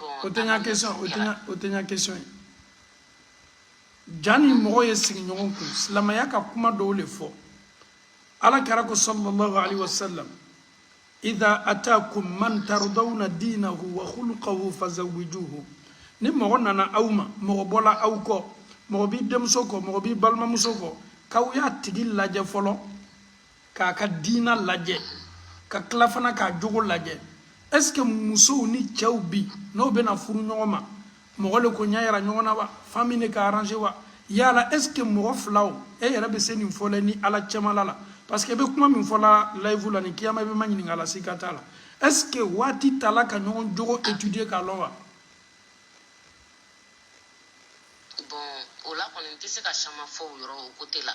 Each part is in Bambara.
o tɛ n ka question o tɛ n ka o tɛ n ka question ye jani mɔgɔ ye sigi ɲɔgɔn kun silamaya ka kuma dɔw le fɔ ala kira ko sallallahu alaihi wa sallam idha atakum man tardawna dinahu wa khuluqahu fazawwijuhu ni mɔgɔ nana aw ma mɔgɔ bɔla aw kɔ mɔgɔ b'i denmuso kɔ mɔgɔ b'i balimamuso kɔ k'aw y'a tigi lajɛ fɔlɔ k'a ka diina lajɛ ka tila fana k'a jogo lajɛ est ce que musow ni cɛw bi n'o bɛna furu ɲɔgɔn ma mɔgɔ le k'o ɲa yira ɲɔgɔn na wa famille le k'a arranger wa yala est ce que mɔgɔ filaw e yɛrɛ bɛ se nin fɔ l'e ni ala cɛmala la parce que i bɛ kuma min fɔ la live la ni kiyama i bɛ maɲininka la sika t'a la est ce que waati tala ka ɲɔgɔn jogo étudier k'a lɔn wa bon o la kɔni n tɛ se ka caman fɔ o yɔrɔ o côté la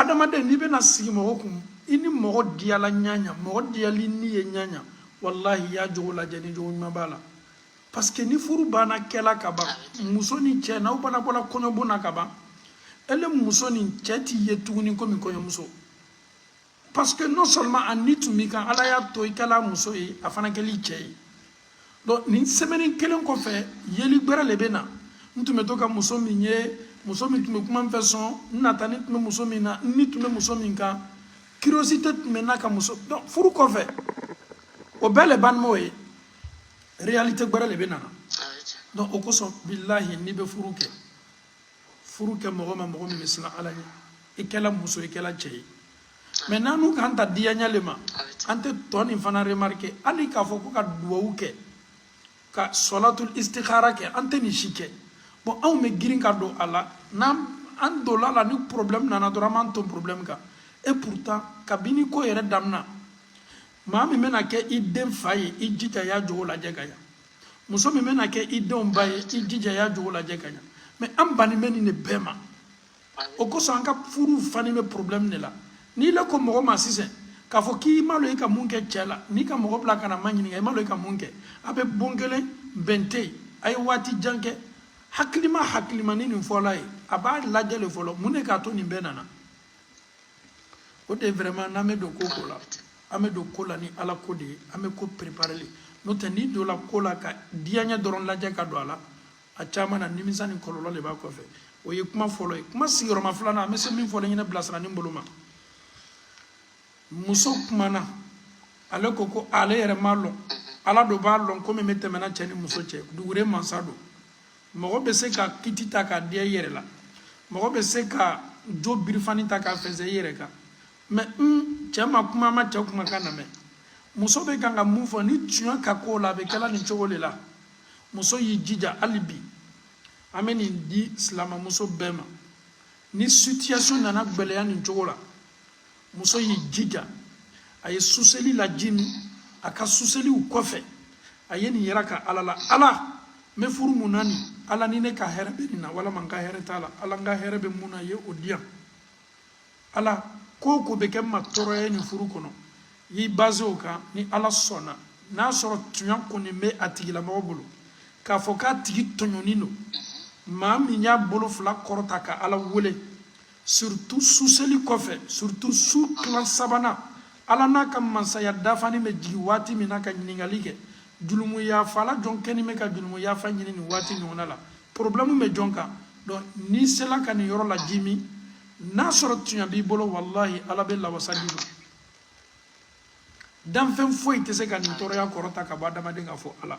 adamaden n'i bɛna sigi mɔgɔ kun i ni mɔgɔ diyala ɲaɲa mɔgɔ diyalen i ye ɲaɲa walahi y'a jogo lajɛ ni jogo ɲuman b'a la parce que ni furu banna kɛla ka ban muso ni cɛ n'aw banna bɔla kɔɲɔbon na ka ban ele muso ni cɛ t'i ye tuguni komi kɔɲɔmuso parce que non seulement a ni tun b'i kan ala y'a to i kɛl'a muso ye a fana kɛl'i cɛ ye donc nin semaine kelen kɔfɛ yeli gbɛrɛ le bɛ na n tun bɛ to ka muso min ye muso min tun bɛ kuma n fɛ sɔn n nata ni tun bɛ muso min na ni tun bɛ muso min kan curiosité tun bɛ n na ka muso donc furu kɔfɛ o bɛɛ le bannen b'o ye réalité gbɛrɛ le bɛ na donc o kosɔn bilahi n'i bɛ furu kɛ furu kɛ mɔgɔ ma mɔgɔ min bɛ siran ala ɲɛ i kɛla muso i kɛla cɛ ye mais n'an n'u k'an ta diyaɲa le ma an tɛ tɔ nin fana remarquer hali k'a fɔ ko ka duwawu kɛ ka sɔlatul istikara kɛ an tɛ nin si kɛ bon anw bɛ girin ka don a la n'an an donna a la ni problème nana dɔrɔn an b'an ton problème kan et pourtant kabini ko yɛrɛ damina maa min bɛna kɛ i den fa ye i jija y'a jogo lajɛ ka ɲa muso min bɛna kɛ i denw ba ye i jija y'a jogo lajɛ ka ɲa mais an banni bɛ nin de bɛɛ ma o kosɔn an ka furuw fani bɛ problème de la n'ile ko mɔgɔ ma sisan k'a fɔ k'i m'a lɔn i ka mun kɛ cɛ la n'i ka mɔgɔ bila ka n'a maɲininka i m'a lɔn i ka mun kɛ a bɛ bon kelen bɛn tɛ yen a ye waati jan kɛ hakilima hakilima ni nin fɔl'a ye a b'a lajɛ le fɔlɔ mun de k'a to nin bɛɛ nana o de vraiment n'an bɛ don ko ko la an bɛ don ko la ni ala ko de ye an bɛ ko préparer le n'o tɛ n'i donna ko la ka diyaɲɛ dɔrɔn lajɛ ka don a la a caman na nimisa ni kɔlɔlɔ de b'a kɔfɛ o ye kuma fɔlɔ ye kuma sigiyɔrɔma filanan an bɛ se min fɔ ne ɲɛna bilasirali bolo ma muso kumana ale ko ko ale yɛrɛ m'a lɔn ala de b'a lɔn ko min bɛ tɛmɛna cɛ ni muso cɛ dugure mansa don mɔgɔ bɛ se ka kiti ta k'a diya i yɛrɛ la mɔgɔ bɛ se ka jo birifani ta k'a fɛnsɛ i yɛrɛ kan mais n cɛ ma kuma an ma cɛ kumakan namɛn muso bɛ kan ka mun fɔ ni tiɲɛ ka ko la a bɛ kɛla nin cogo de la muso y'i jija hali bi an bɛ nin di silamɛmuso bɛɛ ma ni situation nana gɛlɛya nin cogo la muso y'i jija a ye suseli lajimi a ka suseliw kɔfɛ a ye nin yira ka ala la ala n bɛ furu min na nin ala ni ne ka hɛrɛ bɛ nin na walama n ka hɛrɛ t'a la ala n ka hɛrɛ bɛ min na ye o di yan ala ko ko bɛ kɛ n ma tɔɔrɔya ye nin furu kɔnɔ y'i basé o kan ni ala sɔnna n'a sɔrɔ tunya kɔni bɛ a tigilamɔgɔ bolo k'a fɔ k'a tigi tɔɲɔni don maa min y'a bolo fila kɔrɔta ka ala wele surtout suseli kɔfɛ surtout su tilan sabanan ala n'a ka mansaya dafani bɛ jigin waati min na ka ɲininkali kɛ julumu yafa la jɔn kɛni bɛ ka julumu yafa ɲini nin waati ɲɔgɔnna la problème bɛ jɔn kan donc n'i sela ka nin yɔrɔ lajimi n'a sɔrɔ tuɲa b'i bolo walahi ala bɛ lawasa d'i ma danfɛn foyi tɛ se ka nin tɔɔrɔya kɔrɔta ka bɔ adamaden kan fɔ ala